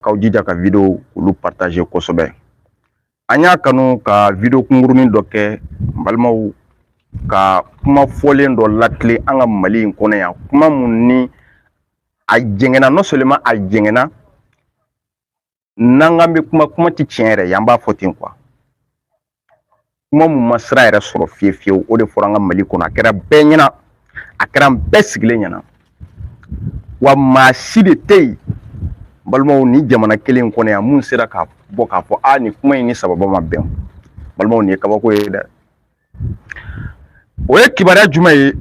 k'aw jija ka video olu partager kosɛbɛ an y'a kanu ka video kunkurunin dɔ kɛ n balimaw ka kuma fɔlen dɔ latilen an ka mali in kɔnɔ yan kuma mun ni a jɛngɛnna non seulement a jɛngɛnna n'an k'an bɛ kuma kuma tɛ tiɲɛ yɛrɛ ye an b'a fɔ ten quoi kuma mun ma sira yɛrɛ sɔrɔ fiye fiyewu o de fɔra an ka mali kɔnɔ a kɛra bɛɛ ɲɛna a kɛra an bɛɛ sigilen ɲɛna wa maa si de tɛ yen balimaw ni jamana kelen in kɔnɔ yan mun sera ka bɔ k'a fɔ a nin kuma in ni sababa ma bɛn balimaw nin ye kabako ye dɛ o ye kibaruya jumɛn ye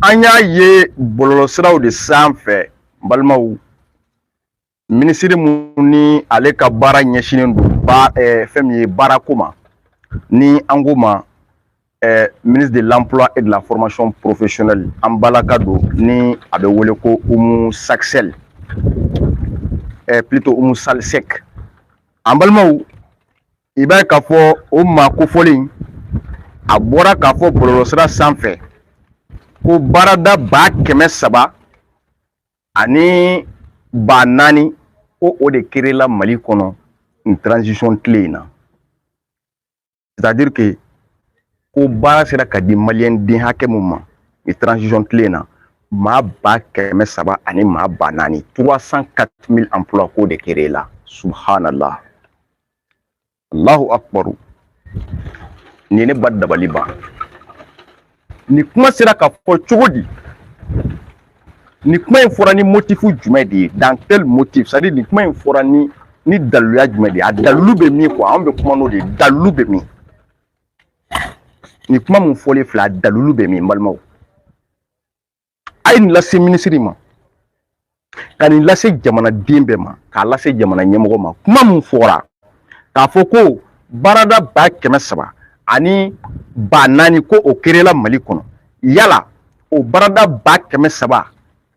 an y'a ye bɔlɔlɔsiraw de sanfɛ balimaw minisiri mun ni ale ka baara ɲɛsinnen don ba eh, fɛn min ye baarako ma ni an ko ma eh, ministre de l'emploi et de la formation professionnelle an balaka don ni a bɛ wele ko Oumou Saksel eh, plutôt Oumou Sall Seck an balimaw i b'a ye k'a fɔ o maa kofɔlen a bɔra k'a fɔ bɔlɔlɔsira sanfɛ ko baarada ba kɛmɛ saba ani ba naani ko o de créer la mali kɔnɔ nin transition tile in na c'est à dire que ko baara sera ka di maliyɛn den hakɛ mun ma nin transition tile in na maa ba kɛmɛ saba ani maa ba naani trois cent quatre mille emplois ko o de créer la subhanallah Allahu akbaru nin ne ba dabali ban nin kuma sera ka fɔ cogo di nin kuma in fɔra ni motifu jumɛn de ye dans quel motif c'est à dire nin kuma in fɔra ni ni daliluya jumɛn de ye a dalilu bɛ min quoi anw bɛ kuma n'o de ye dalilu bɛ min nin kuma mun fɔlen filɛ a dalilu bɛ min n balimaw a ye nin lase minisiri ma ka nin lase jamanaden bɛɛ ma k'a lase jamana ɲɛmɔgɔ ma kuma min fɔra k'a fɔ ko baarada ba kɛmɛ saba ani ba naani ko o créer la mali kɔnɔ yala o baarada ba kɛmɛ saba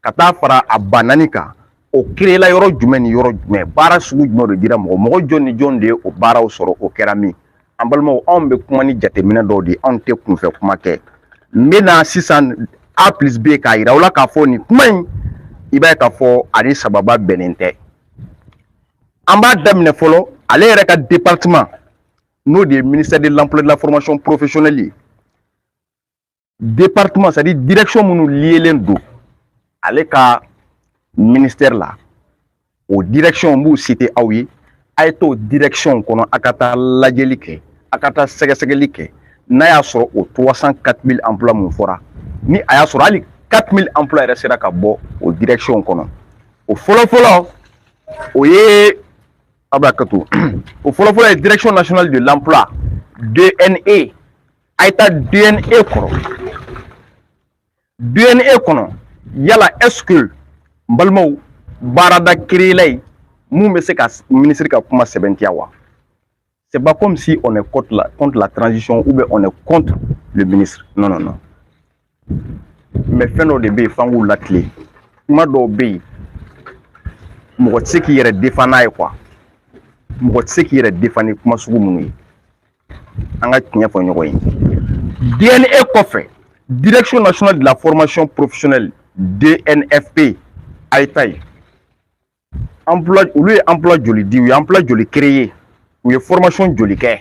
ka taa fara a ba naani kan o créer la yɔrɔ jumɛn ni yɔrɔ jumɛn baara sugu jumɛn de dira mɔgɔ mɔgɔ jɔn ni jɔn de ye o baaraw sɔrɔ o kɛra min an balimaw anw bɛ kuma ni jateminɛ dɔw de ye anw tɛ kunfɛ kuma kɛ n bɛ na sisan a plus b k'a yira aw la k'a fɔ nin kuma in i b'a ye k'a fɔ a ni sababa bɛnnen tɛ an b'a daminɛ fɔlɔ ale yɛrɛ ka departement n'o de ye ministère de l'emploi de la formation professionnelle ye département c'est à dire direction minnu liyelen don ale ka ministère la o direction n b'u citer aw ye a ye t'o direction kɔnɔ a ka taa lajɛli kɛ a ka taa sɛgɛsɛgɛli kɛ n'a y'a sɔrɔ o 304 000 emploi mun fɔra ni a y'a sɔrɔ hali 4 000 emploi yɛrɛ sera ka bɔ o direction kɔnɔ o fɔlɔfɔlɔ o ye a bɛ hakɛ to o fɔlɔfɔlɔ ye direction nationale de l'emploi dne a ye taa dne kɔrɔ dne kɔnɔ yala est-ce que n balimaw baarada créela yen mun bɛ se ka minisiri ka kuma sɛbɛntiya wa c'est pas comme si on est contre la transition ou bien on est contre le ministre non non non mais fɛn dɔw de bɛ yen f'an k'u latilen kuma dɔw bɛ yen mɔgɔ tɛ se k'i yɛrɛ defan n'a ye quoi mɔgɔ tɛ se k'i yɛrɛ defan ni kuma sugu minnu ye an ka tiɲɛ fɔ ɲɔgɔn ye dne kɔfɛ direction nationale de la formation professionnelle dnfp a ye taa yen emploi olu ye emploi joli di u ye emploi joli créer u ye formation joli kɛ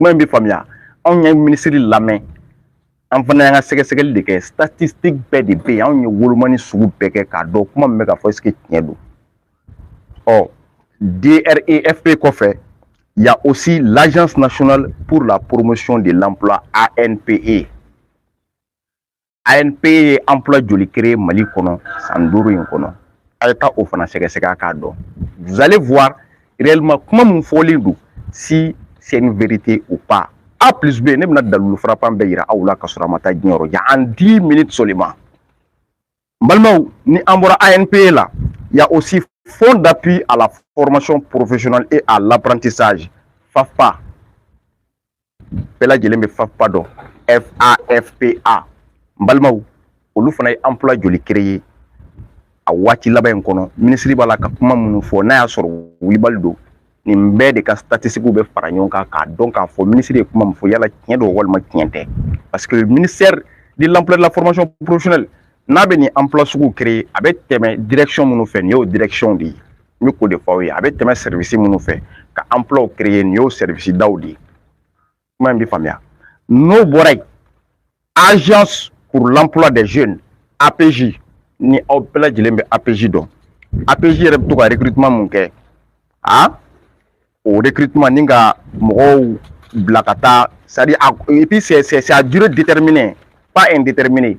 kuma in bɛ faamuya anw ye minisiri lamɛn an fana y'an ka sɛgɛsɛgɛli de kɛ statistique bɛɛ de bɛ yen anw ye wolomani sugu bɛɛ kɛ k'a dɔn kuma min bɛ ka fɔ est-ce que tiɲɛ don ɔ DREFP kɔfɛ il y a aussi l'Agence nationale pour la promotion de l'emploi ANPE ANPE ye emploi joli créer Mali kɔnɔ san duuru in kɔnɔ a ye taa o fana sɛgɛsɛgɛ k'a dɔn vous allez voir réellement kuma min fɔlen don si c'est une vérité ou pas A plus B ne bɛna dalilu frappant bɛɛ yira aw la k'a sɔrɔ a ma taa diɲɛ yɔrɔ jan en 10 minutes seulement n balimaw ni an bɔra ANPE la il y a aussi Fonds d'appui à la formation professionnelle et à l'apprentissage, FAFPA, bɛɛ lajɛlen bɛ FAFPA dɔn FAFPA n balimaw olu fana ye emploi joli créer ye a waati laban in kɔnɔ minisiri b'a la ka kuma minnu fɔ n'a y'a sɔrɔ wulibali don nin bɛɛ de ka statistikiw bɛ fara ɲɔgɔn kan k'a dɔn k'a fɔ minisiri ye kuma min fɔ yala tiɲɛ don walima tiɲɛ tɛ parce que ministère de l'emploi de la formation professionnelle n'a bɛ nin emploi sugu créer a bɛ tɛmɛ direction minnu fɛ nin y'o direction de ye n bɛ k'o de fɔ aw ye a bɛ tɛmɛ service minnu fɛ ka emploiw créer nin y'o service daw de ye kuma in bɛ faamuya n'o bɔra yen agence pour l'emploi des jeunes apej ni aw bɛɛ lajɛlen bɛ apej dɔn apej yɛrɛ bɛ to ka recrutement mun kɛ a o recrutement nin ka mɔgɔw bila ka taa c'est à dire et puis c'est c'est à durée déterminée pas indéterminée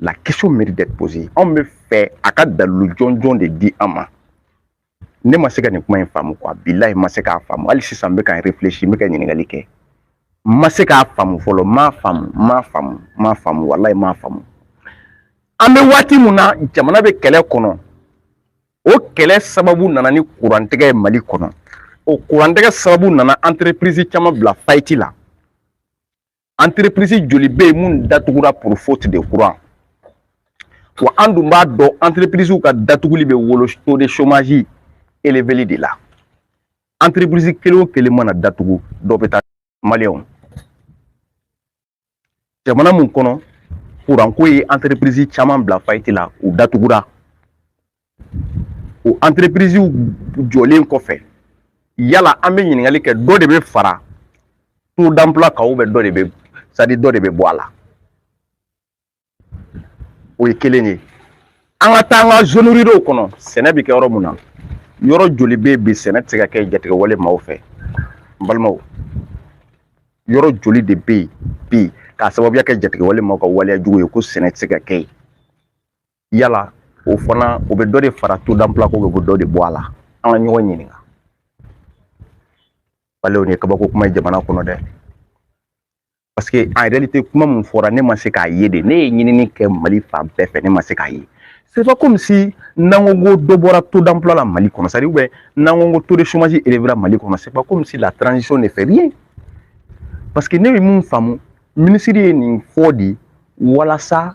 la question mérite d'être posée anw bɛ fɛ a ka dalilu jɔnjɔn de di an ma ne ma se ka nin kuma in faamu quoi bilayi ma se k'a faamu hali sisan n bɛ ka n réfléchir n bɛ ka ɲininkali kɛ n ma se k'a faamu fɔlɔ n m'a faamu n m'a faamu n m'a faamu walayi n m'a faamu an bɛ waati mun na jamana bɛ kɛlɛ kɔnɔ o kɛlɛ sababu nana ni kurantigɛ ye mali kɔnɔ o kurantigɛ sababu nana entreprise caman bila faillite la entreprise joli bɛ yen mun datugura pour faute de courant wa an dun b'a dɔn entreprisew ka datuguli bɛ wolo taux de chômage eleveli de la entreprise kelen o kelen mana datugu dɔ bɛ taa maliyɛnw jamana mun kɔnɔ kuranko ye entreprise caman bila faillite la u datugura o entreprisew jɔlen kɔfɛ yala an bɛ ɲininkali kɛ dɔ de bɛ fara taux d'emploi kan ou bien dɔ de bɛ c'est-à-dire dɔ de bɛ bɔ a la o ye kelen ye an ka taa an ka zone ruralew kɔnɔ sɛnɛ bɛ kɛ yɔrɔ mun na yɔrɔ joli bɛ yen bi sɛnɛ tɛ se ka kɛ jatigɛwale maaw fɛ n balimaw yɔrɔ joli de bɛ yen bi k'a sababuya kɛ jatigɛwale maaw ka waleya jugu ye ko sɛnɛ tɛ se ka kɛ yen yala o fana o bɛ dɔ de fara taux d'emploi kan o bɛ dɔ de bɔ a la an ka ɲɔgɔn ɲininka balimaw nin kabako kuma ye jamana kɔnɔ dɛ parce que en réalité kuma mun fɔra ne ma se k'a ye dɛ ne ye ɲinini kɛ mali fan bɛɛ fɛ ne ma se k'a ye c'est pas comme si n'an ko ko dɔ bɔra taux d'emploi la mali kɔnɔ c'est-à-dire ou bien n'an ko ko taux de chômage élevé la mali kɔnɔ c'est pas comme si la transition ne fait rien parce que ne bɛ mun faamu minisiri ye nin fɔ de walasa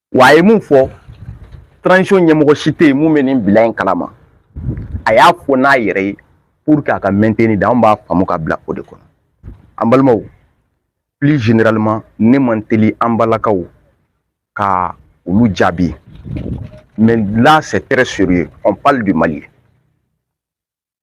wa a ye mun fɔ transition ɲɛmɔgɔ si tɛ yen mun bɛ nin bilan in kalama a y'a fɔ n'a yɛrɛ ye pour que a ka maintenir de anw b'a faamu ka bila o de kɔnɔ an balimaw plus généralement ne man teli an balakaw ka olu jaabi mais là c'est très sérieux on parle du Mali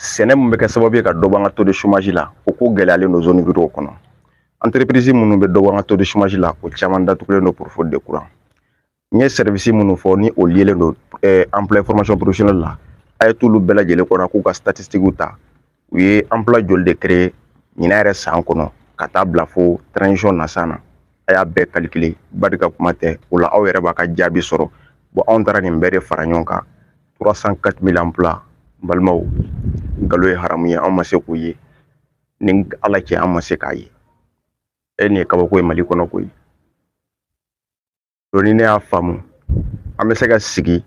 sɛnɛ mun bɛ kɛ sababu ye ka dɔ bɔ an ka taux de chômage la o ko gɛlɛyalen don zone ruralew kɔnɔ entreprise minnu bɛ dɔ bɔ an ka taux de chômage la o caman datugulen don pour faute de courant n ye service minnu fɔ ni o liélen don emploi formation professionnelle la a ye t'olu bɛɛ lajɛlen kɔnɔ k'u ka statistiquew ta u ye emploi joli de créer ɲinan yɛrɛ san kɔnɔ ka taa bila fo transition na san na a y'a bɛɛ calculer barika kuma tɛ o la aw yɛrɛ b'a ka jaabi sɔrɔ bon anw taara nin bɛɛ de fara ɲɔgɔn kan 304 mille emplois n balimaw nkalon ye haramu ye an ma se k'o ye ni ala cɛ an ma se k'a ye e nin ye kabako ye mali kɔnɔ koyi bon ni ne y'a faamu an bɛ se ka sigi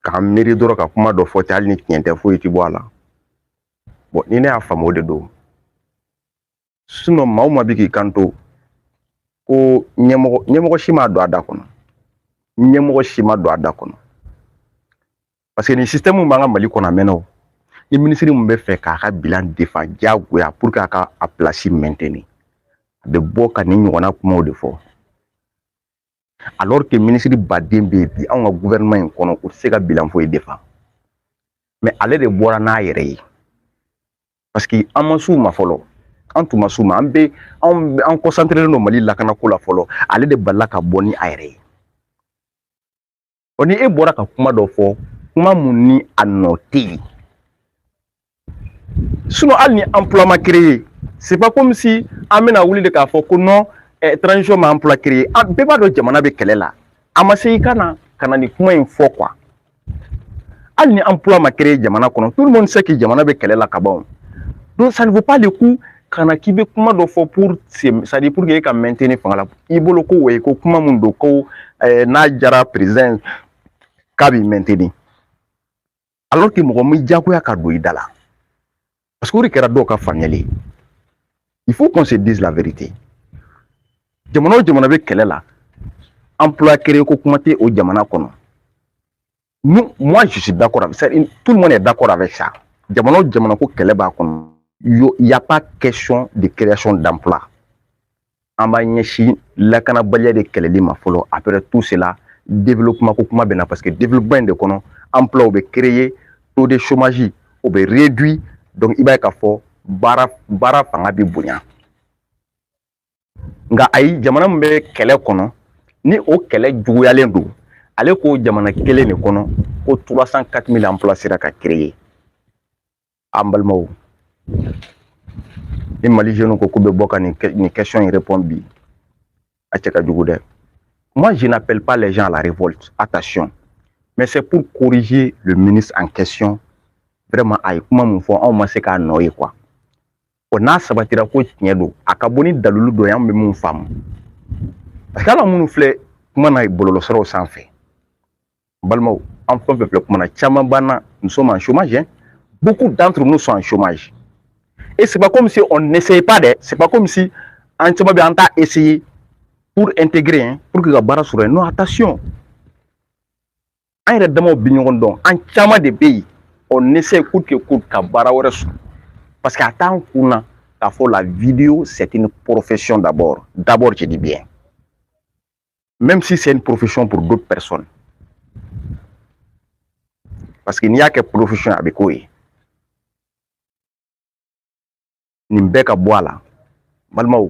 k'an miiri dɔrɔn ka kuma dɔ fɔ ten hali ni tiɲɛ tɛ foyi ti bɔ a la bon ni ne y'a faamu o de don maa o maa bɛ k'i kanto ko ɲɛmɔgɔ si m'a don a da kɔnɔ ɲɛmɔgɔ si m'a don a da kɔnɔ parce que nin système b'an ka mali kɔnɔ a mɛnna o ni minisiri min bɛ fɛ k'a ka bilan défendre diyagoya pour que a ka a place maintenir a bɛ bɔ ka nin ɲɔgɔnna kumaw de fɔ alors que minisiri baden bɛ yen bi anw ka gouvernement in kɔnɔ u tɛ se ka bilan foyi défendre mais ale de bɔra n'a yɛrɛ ye parce que an ma s'u ma fɔlɔ an tun ma s'u ma an bɛ an concentrélen don mali lakanako la fɔlɔ ale de balala ka bɔ ni a yɛrɛ ye ɔ ni e bɔra ka kuma dɔ fɔ kuma min ni a nɔ tɛ yen sinon hali ni emploi ma créé c'est pas comme si an bɛna wuli de k'a fɔ ko non eh, transition ma emploi créé an bɛɛ b'a dɔn jamana bɛ kɛlɛ la a ma se i ka na ka na nin kuma in fɔ quoi hali ni emploi ma créé jamana kɔnɔ tout le monde sait que jamana bɛ kɛlɛ la ka ban donc ça ne vaut pas le coup ka na k'i bɛ kuma dɔ fɔ pour c'est-à-dire pour que e ka maintenir fanga la i bolo ko ouais ko kuma mun don ko eh, n'a jara président k'a b'i maintenir alors que mɔgɔ m'i diyagoya k'a don i da la parce que o de kɛra dɔw ka faamuyali ye il faut qu'on se dise la vérité jamana o jamana bɛ kɛlɛ la emploi créé ko kuma tɛ o jamana kɔnɔ nous, moi, je suis d'accord avec ça. Tout le monde est d'accord avec ça. Jamana o jamana ko kɛlɛ b'a kɔnɔ il n'y a pas question de création d'emploi an b'a ɲɛsin lakanabaliya de kɛlɛli ma fɔlɔ après tout cela développement ko kuma bɛ na parce que développement in de kɔnɔ emploi bɛ créer taux de chômage o bɛ réduit donc i b'a ye k'a fɔ baara fanga bɛ bonya nka ayi jamana min bɛ kɛlɛ kɔnɔ ni o kɛlɛ juguyalen don ale ko jamana kelen de kɔnɔ ko trois cent quatre mille emplois sera ka créer an balimaw ni mali jeunes ko k'u bɛ bɔ ka nin question in répondre bi a cɛ ka jugu dɛ moi je n'appelle pas les gens à la révolte attention mais c'est pour corriger le ministre en question vraiment a ye kuma min fɔ anw ma se k'a nɔ ye quoi o n'a sabatira ko tiɲɛ don a ka bɔ ni dalilu dɔ ye an bɛ min faamu parce que ala minnu filɛ kuma na bɔlɔlɔsiraw sanfɛ n balimaw an fɛn fɛn filɛ kuma na caman b'an na nous sommes en chômage hein? beaucoup d'entre nous sont en chômage et c'est pas comme si on n'essayait pas dɛ c'est pas comme si an caman bɛ an t'a essayer pour intégrer hein, pour que ka baara sɔrɔ yen non attention an yɛrɛ damaw bi ɲɔgɔn dɔn an caman de bɛ yen on essaie coûte que coûte ka baara wɛrɛ sɔrɔ parce que a t'an kun na k'a fɔ la vidéo c'est une profession d'abord d'abord je dis bien même si c'est une profession pour d'autres personnes parce que n'i y'a kɛ profession a bɛ k'o ye nin bɛɛ ka bɔ a la balimaw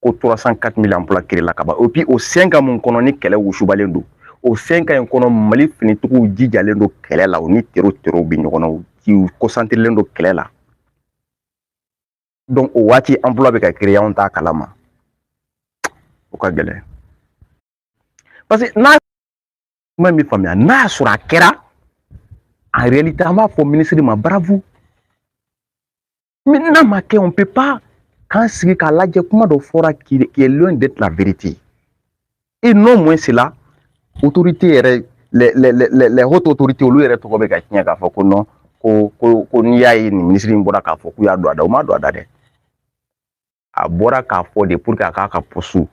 ko trois cent quatre mille emplois créé la ka ban et puis o cinq ans mun kɔnɔ ni kɛlɛ wusubalen don o cinq ans in kɔnɔ mali finitigiw jijalen don kɛlɛ la u ni tero terow bɛ ɲɔgɔn na u concentrélen don kɛlɛ la donc o waati emploi bɛ ka créé anw t'a kalama o ka gɛlɛn parce que n'a kuma in bɛ faamuya n'a y'a sɔrɔ a kɛra en réalité an b'a fɔ minisiri ma bravo Mais n'a ma kɛ on peut pas k'an sigi k'a lajɛ kuma dɔ fɔra qui est loin d'être la vérité et non moins c'est là autorité yɛrɛ les les les les hautes autorités olu yɛrɛ tɔgɔ bɛ ka tiɲɛ k'a fɔ ko non ko ko ko n'i y'a ye nin minisiri in bɔra k'a fɔ k'u y'a don a da u m'a don a da dɛ a bɔra k'a fɔ de pour que a k'a ka poste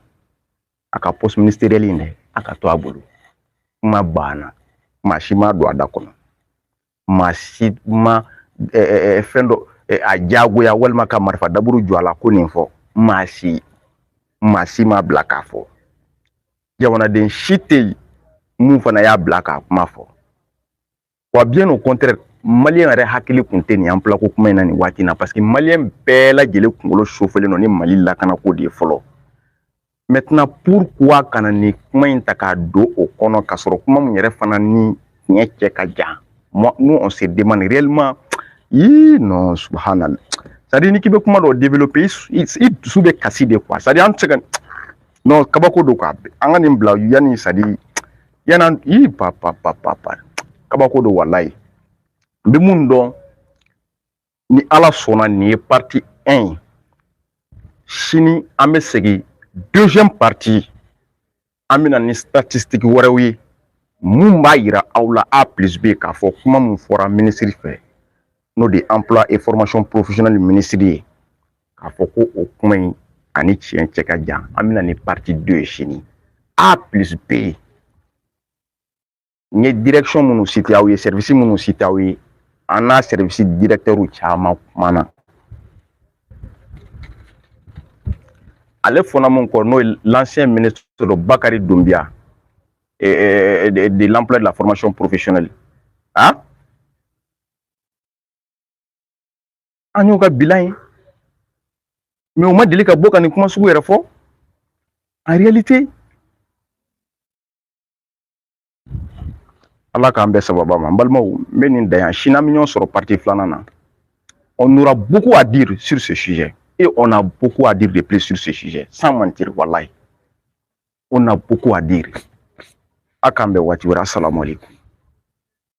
a ka poste ministériel in dɛ a ka to a bolo kuma banna maa si m'a don a da kɔnɔ maa si ma fɛn dɔ a diyagoya walima ka marifa daburu jɔ a la ko nin fɔ maa si maa si m'a bila k'a fɔ jamanaden si tɛ yen mun fana y'a bila k'a kuma fɔ wa bien au contraire malien yɛrɛ hakili kun tɛ nin emploi ko kuma in na nin waati in na parce que malien bɛɛ lajɛlen kunkolo chauffélen don ni mali lakanako de ye fɔlɔ maintenant pourquoi ka na nin kuma in ta k'a don o kɔnɔ k'a sɔrɔ kuma min yɛrɛ fana ni tiɲɛ cɛ ka jan moi nous on se demande réellement ii non subhanallah c'est à dire ni k'i bɛ kuma dɔ développer i dusu bɛ kasi de quoi c'est à dire an tɛ se ka non kabako don quoi an ka nin bila yanni c'est à dire yan'an i pa pa pa pa pa kabako don walayi n bɛ mun dɔn ni ala sɔnna nin ye partie 1 ye sini an bɛ segin deuxième partie an bɛ na ni statistique wɛrɛw ye mun b'a yira aw la a plus b k'a fɔ kuma mun fɔra minisiri fɛ n'o de ye emploi et formation professionnelle minisiri ye k'a fɔ ko o kuma in ani tiɲɛ cɛ ka jan an bɛ na ni partie 2 ye sini a plus b n ye direction minnu cité aw ye service minnu cité aw ye an n'a service directeur caman kumana ale fɔnna min kɔ n'o ye l'ancien ministre Bakari Doumbia eh, eh, de l'emploi de la formation professionnelle hein? an y'u ka bilan ye mais u ma deli ka bɔ ka nin kuma sugu yɛrɛ fɔ en réalité ala k'an bɛn sababu ma n balimaw n bɛ nin dan yan sini an bɛ ɲɔgɔn sɔrɔ partie filanan na on aura beaucoup à dire sur ce sujet et on a beaucoup à dire de plus sur ce sujet sans mentir wallahi on a beaucoup à dire a k'an bɛn waati wɛrɛ asalamu aleykum